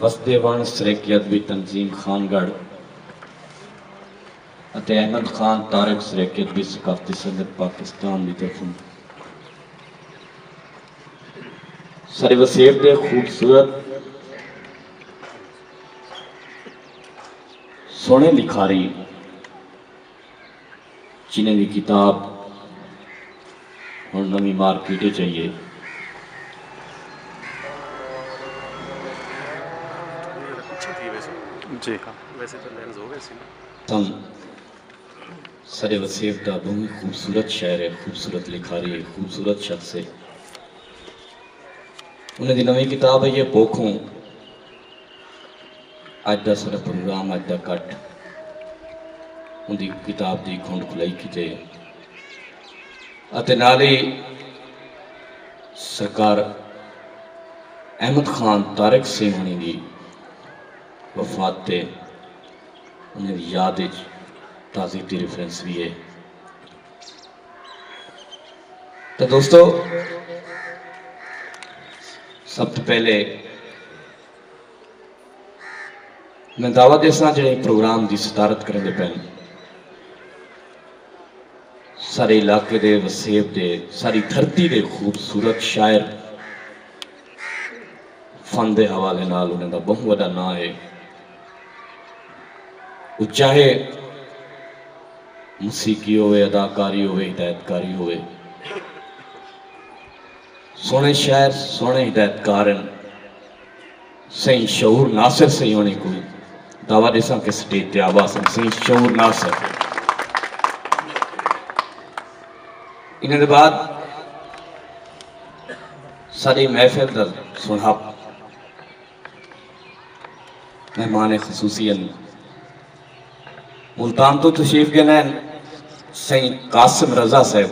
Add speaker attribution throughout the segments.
Speaker 1: وسدے وݨ سرائیکی ادبی تنظیم خان گڑھ اتے احمد خان طارق سرائیکی ادبی ثقافتی سنگت پاکستان دی طرفوں سر وسیب دے خوبصورت سوہݨے لکھاری جنہیں دی کتاب ہن نویں مارکیٹ اچ آئی ہے۔ تاں ساڈے وسیب دا بہوں ہی خوبصورت شہر ہے، خوبصورت لکھاری ہے، خوبصورت شخص ہے۔ انہیں دی نویں کتاب آئی ہے بوکھوں۔ اڄ دا ساݙا پروگرام اڄ دا کٹ اوندی کتاب دی کھنڈ کھلائی کیتے اتے نال ہی سرکار احمد خان طارق سنگھ ہنی دی وفات تے انہیں دی یاد اچ تعزیتی ریفرنس بھی ہے تو دوستو سب تو پہلے میں دعوی ݙیساں جیڑھے پروگرام دی صدارت کریندے پئن سارے علاقے دے وسیب دے ساری دھرتی دے خوبصورت شاعر فن دے حوالے نال انہاں دا بہوں وڈا ناں ہے او چاہے موسیقی ہوئے اداکاری ہوئے ہدایت کاری ہوئے سونے شاعر سونے ہدایت کار ہیں سئیں شعور ناصر سئیں ہونے کوں دعوت ڈیساں کہ سٹیج تے آوا سن سئیں شعور ناصر انہاں دے بعد ساری محفل دا سنہپ مہمان خصوصی ملتان توں تشریف گھن آئن سئیں قاسم رضا صاحب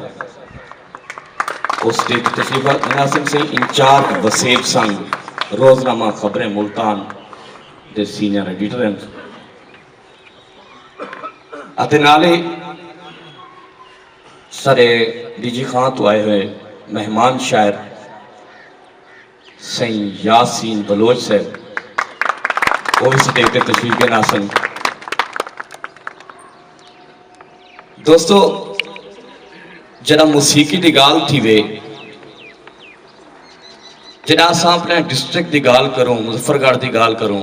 Speaker 1: اس ڈے توں تشریف گھن آسن سئیں انچارج وسیب سنگ روزنامہ خبریں ملتان دے سینئر ایڈیٹر ہیں اتے نالے سرے ڈی جی خان تو آئے ہوئے مہمان شاعر سئیں یاسین بلوچ صاحب او وی سٹیج تے تشریف گن آسن۔ دوستو جڈاں موسیقی دی گالھ تھیوے جڈاں اساں اپنے ڈسٹرکٹ دی گالھ کروں مظفر گڑھ دی گالھ کروں۔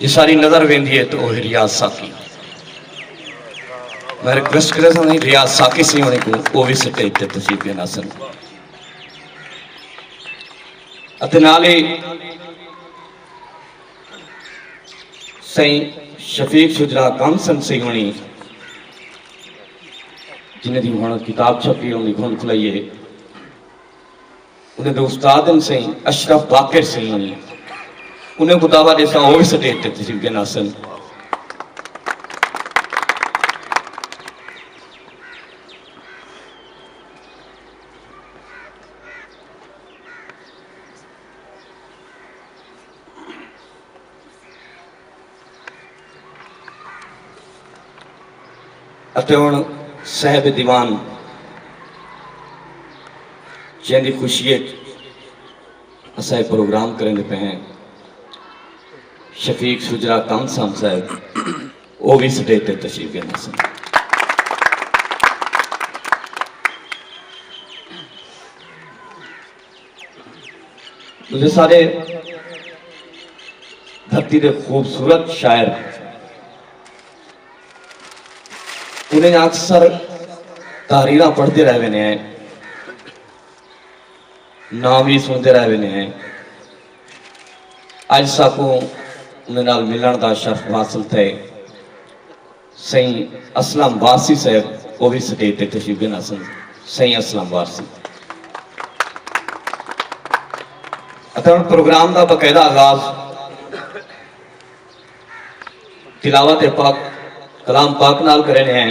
Speaker 1: جساری نظر ویندی ہے تو اوہی ریاض ساقی میں ریکویسٹ کرے سن ریاض ساقی سی ہونے کو او وی سٹے تے تشریف لینا سن اتے نالی سائیں شفیق شجرا کام سن سی ہونی جنہیں دی ہونت کتاب چھپی ہونی گھن کھلائیے انہاں دے استاد ہن سئیں اشرف باقر سیون انہاں کوں دعوت ݙیساں او وی سٹیج تے تشریف گھن آسن۔ اتے ہݨ صاحب دیوان جیندی خوشی اچ اساں اے پروگرام کریندے پئے ہیں شفیق شجرا کم سام صاحب او وی سٹیج تے تشریف گن ہسن تسے سارے دھرتی دے خوبصورت شاعر انہیں اکثر تحریرہ پڑھتے رہے نے ہیں نام ہی سنتے رہے نے ہیں اج ساکوں انہیں نال ملن دا شرف حاصل تھے سئیں اسلم وارثی صاحب او وی سٹیج تے تشریف گھن آسن سئیں اسلم وارثی اتے ہن پروگرام دا باقاعدہ آغاز تلاوت پاک کلام پاک نال کرن ہیں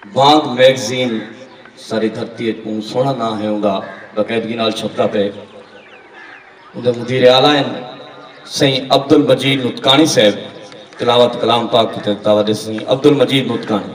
Speaker 1: وانگ میگزین ساری دھرتی اچ بہوں سوہنڑا ناں ہے اوندا باقاعدگی نال چھپدا پئے اوندے مدیر اعلی ہن سئیں عبدالمجید نطقانی صاحب تلاوت کلام پاک کیتے تے دعوت ݙے سئیں عبدالمجید نطقانی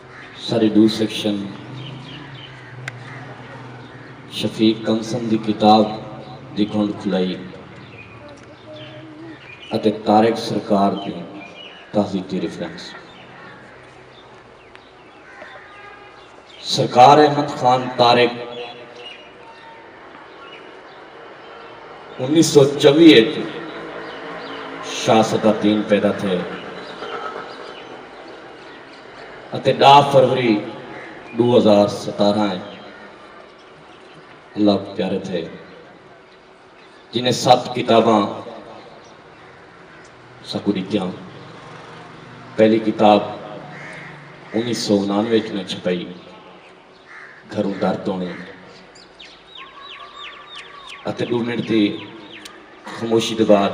Speaker 1: سارے ݙو سیکشن شفیق کنسن دی کتاب دی گھنڈ کھلائی اتے طارق سرکار دی تہذیتی ریفرنس۔ سرکار احمد خان طارق انیس سو چوی اچ شاہ صدر دین پیدا تھئے۔ اتے ݙاہ فروری ݙو ہزار ستارھاں اچ اللہ کوں پیارے تھئے جنہیں ست کتاباں ساکوں ݙتیاں پہلی کتاب انیس سو انانوے اچ میں چھپائی گھروں در توڑیں اتے ݙو منٹ دی خاموشی دے بعد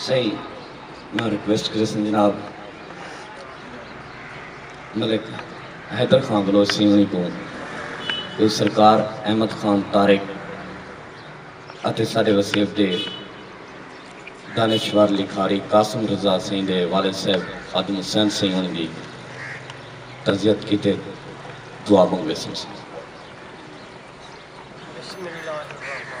Speaker 1: سائیں میں ریکویسٹ کرے سن جناب ملک حیدر خان بلوچ سی ہوئی کو تو سرکار احمد خان طارق اتے سارے وسیب دے دانشور لکھاری قاسم رضا سئیں دے والد صاحب خادم حسین سئیں ہن دی تعزیت کیتے دعا منگوے سن۔ بسم اللہ الرحمن الرحیم۔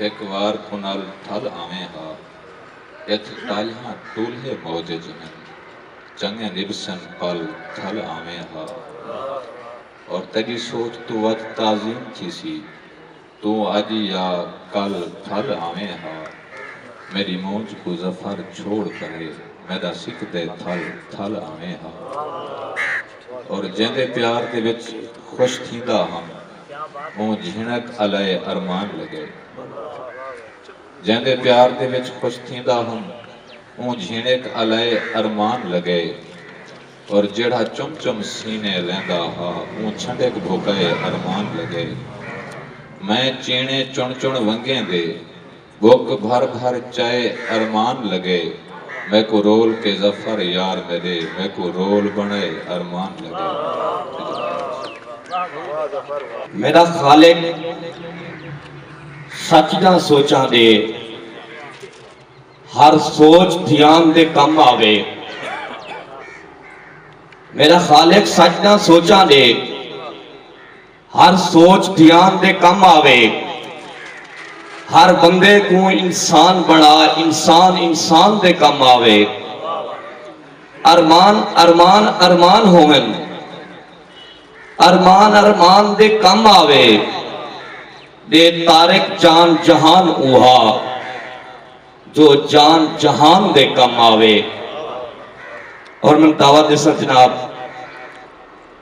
Speaker 1: ہک وار کنال ٹھل آویں ہا۔ اتھ ٹالھیاں ٹولھے موجج ہن۔ چنگے نبھسن پل ٹھل آویں ہا۔ اور تیڈی سوچ توں ودھ تعظیم تھیسی۔ توں اج یا کل ٹھل آویں ہا۔ میڈی مونجھ کوں ظفر چھوڑ پرے میڈا سک دے تھل ٹھل آویں ہا۔ اور جیندے پیار دے وچ خوش تھیندا ہم۔ اوں جھنک الئے ارمان لڳئے۔ جیندے پیار دے وچ خوش تھیندا ہم اوں جھنک الئے ارمان لڳئے اور جیڑھا چم چم سینے لیندا ہا اوں چھنڈک بھوکئے ارمان لڳئے میں چیݨے چݨ چݨ ونگیں دے بک بھر بھر چائے ارمان لگے میکوں رول کے ظفر یار میڈے میکوں رول بنڑے ارمان لگے۔ میڈا خالق سچ دا سوچاں دے ہر سوچ دھیان دے کم آوے میڈا خالق سچ دا سوچاں دے۔ ہر سوچ دھیان دے کم آوے۔ ہر بندے کوں انسان بنڑا انسان انسان دے کم آوے۔ ارمان ارمان ارمان ہوون۔ ارمان ارمان دے کم آوے۔ ڈے طارق جان جہان اوہا جو جان جہان دے کم آوے۔ اور من دعوت دے سر جناب۔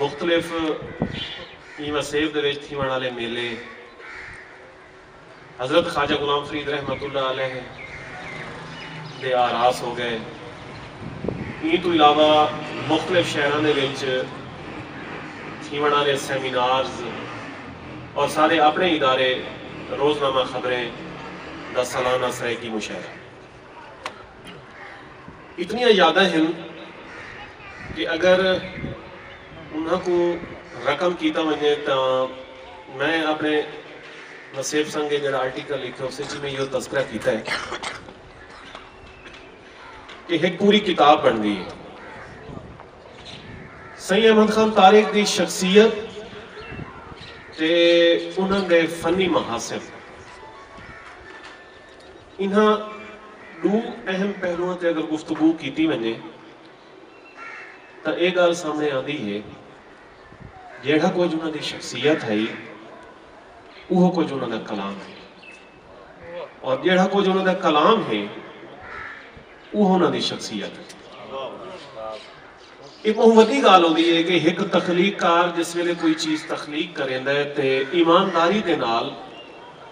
Speaker 1: مختلف ایں وسیب دے وچ تھیوݨ آلے میلے حضرت خواجہ غلام فرید رحمت اللہ علیہ دے آراس ہو ڳئے۔ ایں توں علاوہ مختلف شہراں دے وچ تھیوݨ آلے سیمینارز اور سارے اپݨے ادارے روزنامہ خبریں دا سالانہ سرائیکی مشاعرہ۔ اتنیاں یاداں ہن کہ اگر انہاں کوں رقم کیتا ونجے تاں میں اپنے نصیب سنگے جڑا آرٹیکل لکھے اسے چی میں یو تذکرہ کیتا ہے کہ ایک پوری کتاب بن گئی ہے سید احمد خان طارق دی شخصیت تے انہاں دے فنی محاسن انہاں ݙو اہم پہلوواں تے اگر گفتگو کیتی ونڄے تاں اے ڳالھ سامݨے آندی ہے جیڑھا کجھ انہاں دی شخصیت ہئی اوہو کجھ انہاں دا کلام ہے اور جیڑھا کجھ انہاں دا کلام ہے اوہو انہاں دی شخصیت ہے۔ ایہ بہوں وڈی گالھ ہوندی ہے کہ ہک تخلیق کار جس ویلے کوئی چیز تخلیق کریندا ہے تے ایمانداری دے نال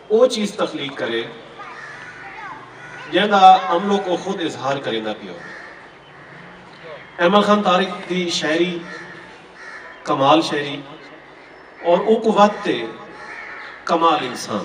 Speaker 1: او چیز تخلیق کرے جیندا املک او خود اظہار کریندا پیا ہووے۔ ایمل خان طارق دی شاعری کمال شاعری اور اونکوں ودھ تے کمال انسان۔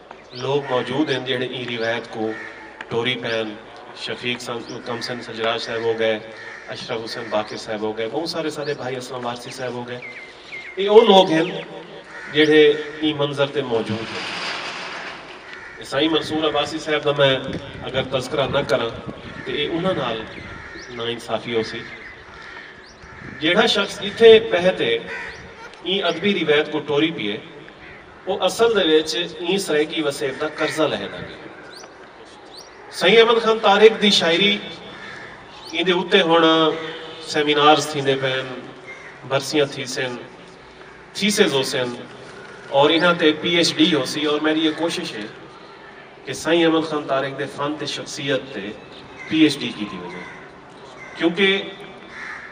Speaker 1: لوک موجود ہن جیہڑے ایں روایت کوں ٹوری پین، شفیق کم سن سجراج صاحب ہو گئے، اشرف حسین باقر صاحب ہو گئے، بہوں سارے ساڈے بھائی اسلم وارثی صاحب ہو گئے۔ ایہ او لوک ہن جیہڑے ایں منظر تے موجود ہن۔ سائیں منصور عباسی صاحب دا میں اگر تذکرہ نہ کراں تے ایہ انہاں نال نا انصافی ہوسی۔ جیہڑا شخص اتھے بہہ تے ایں ادبی روایت کوں ٹوری پیے۔ او اصل دے وچ ایں سرائیکی وسیب دا قرضہ لہے دا گئے۔ سئیں احمد خان طارق دی شاعری ایندے اتے ہن سیمینارز تھیندے پئن، برسیاں تھیسن، تھیسز ہوسن اور انہاں تے پی ایچ ڈی ہوسی اور میڈی اے کوشش ہے کہ سائیں احمد خان طارق دے فن تے شخصیت تے پی ایچ ڈی کیتی ونجے کیونکہ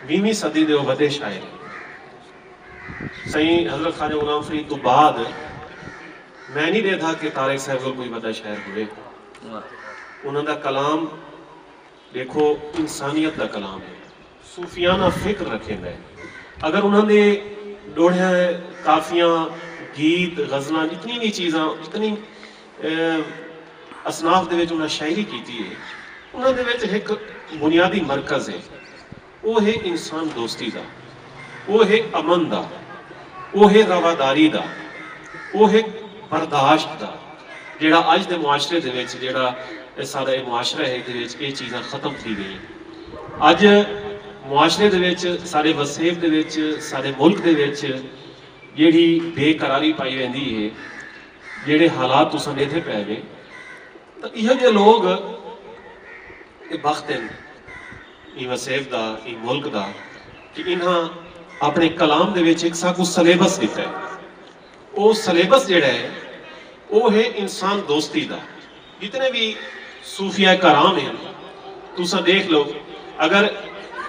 Speaker 1: ویہویں صدی دے او وڈے شاعر ہن۔ سئیں حضرت خواجہ غلام فرید توں بعد میں نی ݙیدھا کہ طارق صاحب کول کوئی وݙا شاعر ہووے۔ انہاں دا کلام ݙیکھو انسانیت دا کلام ہے۔ صوفیانہ فکر رکھیندا ہے۔ اگر انہاں دے ݙوہے کافیاں، گیت، غزلاں جتنی وی چیزاں جتنی اصناف دے وچ انہاں شاعری کیتی ہے۔ انہاں دے وچ ہک بنیادی مرکز ہے۔ او ہے انسان دوستی دا۔ او ہے امن دا۔ او ہے رواداری دا۔ او ہے برداشت دا۔ جیڑھا اج دے معاشرے دے وچ جیڑھا ساڈا اے معاشرہ ہے ایدے وچ اے چیزاں ختم تھی گئیاں۔ اج معاشرے دے وچ ساڈے وسیب دے وچ ساڈے ملک دے وچ جیڑھی بے قراری پائی ویندی ہے۔ جیڑھے حالات تساں ڈیدھے پے وے۔ تاں ایہو جے لوگ اے بخت ہن۔ ایں وسیب دا، ایں ملک دا کہ انہاں اپݨے کلام دے وچ ہک ساکوں سلیبس ݙتا ہے۔ او سلیبس جیڑھا ہے او ہے انسان دوستی دا۔ جتنے وی صوفیاء کرام ہن تساں ݙیکھ لو اگر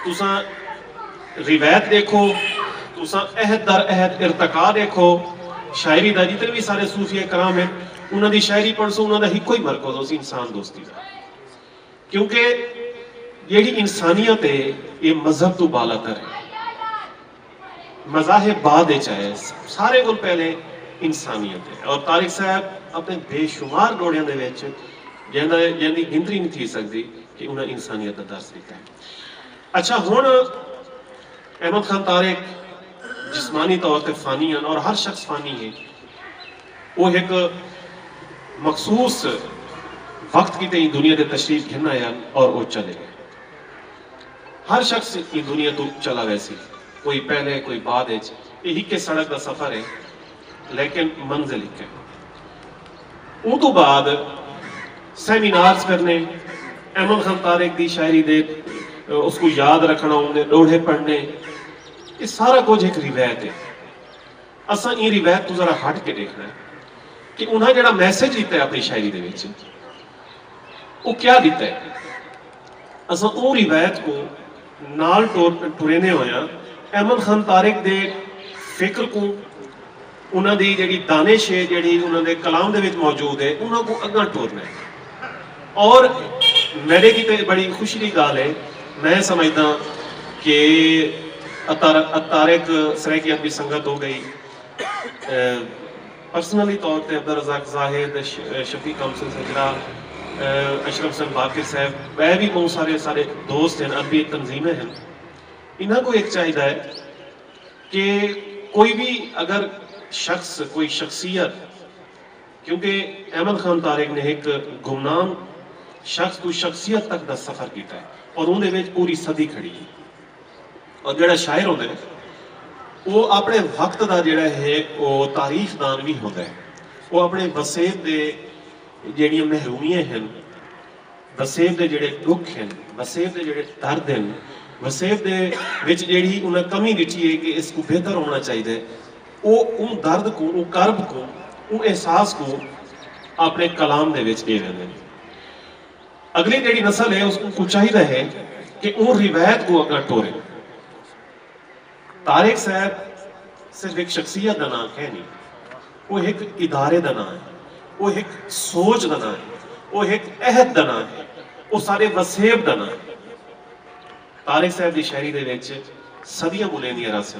Speaker 1: تساں روایت ݙیکھو، تساں عہد در عہد ارتقا ݙیکھو شاعری دا جتنے وی سارے صوفیاء کرام ہن انہاں دی شاعری پڑھسو انہاں دا ہکو ہی مرکز ہوسی انسان دوستی دا۔ کیونکہ جیڑھی انسانیت ہے ایہ مذہب توں بالا تر ہے۔ مذاہب بعد اچ آئے۔ ساریں کول پہلے انسانیت ہے۔ اور طارق صاحب اپنے بے شمار ڈوہڑیاں دے وچ جیندا جیندی گنتی نہیں تھی سکدی کہ انہاں انسانیت دا درس ڈتا ہے۔ اچھا ہن احمد خان طارق جسمانی طور تے فانی ہن اور ہر شخص فانی ہے۔ او ہک مخصوص وقت کیتے ایں دنیا تے تشریف گھن آئے ہن اور او چلے گئے۔ ہر شخص ایں دنیا توں چلا ویسی۔ کوئی پہلے کوئی بعد اچ۔ اے ہکے سڑک دا سفر ہے لیکن منزل ہک ہے۔ اوں توں بعد سیمینارز کرنے، ایمن خان طارق دی شاعری دے اس کوں یاد رکھݨا اوں دے ݙوہڑے پڑھݨے اے سارا کجھ ہک روایت ہے۔ اساں ایں روایت توں ذرا ہٹ کے ڈیکھنا ہے کہ انہاں جیڑھا میسج ڈتا ہے اپنی شاعری دے وچ او کیا ڈتا ہے اساں اوں روایت کو نال ٹریندے ہویاں احمد خان طارق دے فکر کو انہاں دی جیڑھی دانش ہے جیڑھی انہاں دے کلام دے وچ موجود ہے انہاں کو اگاں ٹورنا ہے اور میڈے کیتے اے بڑی خوشی دی گالھ اے۔ میں سمجھداں کہ اتارک سرائیکیاں دی سنگت ہو گئی۔ پرسنلی طور تے عبدالرزاق زاہد، شفیق کامسن سجرا، اشرف حسین باقر صاحب ٻئے وی ٻہوں سارے سارے دوست ہن، ادبی تنظیمیں ہن۔ انہاں کوں ہک چاہیدا اے کہ کوئی وی اگر شخص کوئی شخصیت۔ کیونکہ احمد خان طارق نے ہک گمنام شخص توں شخصیت تک دا سفر کیتا ہے اور اوندے وچ پوری صدی کھڑی ہے اور جیڑھا شاعر ہوندے نے او اپنے وقت دا جیڑھا ہے او تاریخ دان وی ہوندا ہے او اپنے وسیب دے جیڑھیاں محرومیاں ہن وسیب دے جیڑھے ڈکھ ہن وسیب دے جیڑھے درد ہن وسیب دے وچ جیڑھی انہاں کمی ڈٹھی ہے کہ اس کو بہتر ہونا چاہیے او اوں درد کوں، اوں کرب کوں، اوں احساس کوں آپݨے کلام دے وچ ݙے ویندن۔ اڳلی جیڑھی نسل ہے اس کوں چاہیدا ہے کہ اوں روایت کوں اڳاں ٹورے۔ طارق صاحب صرف ہک شخصیت دا ناں کینی۔ او ہک ادارے دا ناں ہے۔ او ہک سوچ دا ناں ہے۔ او ہک عہد دا ناں ہے۔ او ساݙے وسیب دا ناں ہے۔ طارق صاحب دی شاعری دے وچ صدیاں ٻلیندیاں رہسن۔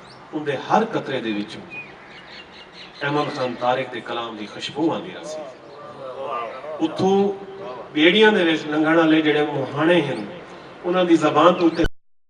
Speaker 1: اوندے ہر قطرے دے وچوں ایمن خان طارق دے کلام دی خشبو آندی راہسی۔ اتھوں ٻیڑیاں دے وچ لنگھݨ آلے جیڑھے مونہاݨے ہن انہاں دی زبان توں اتے۔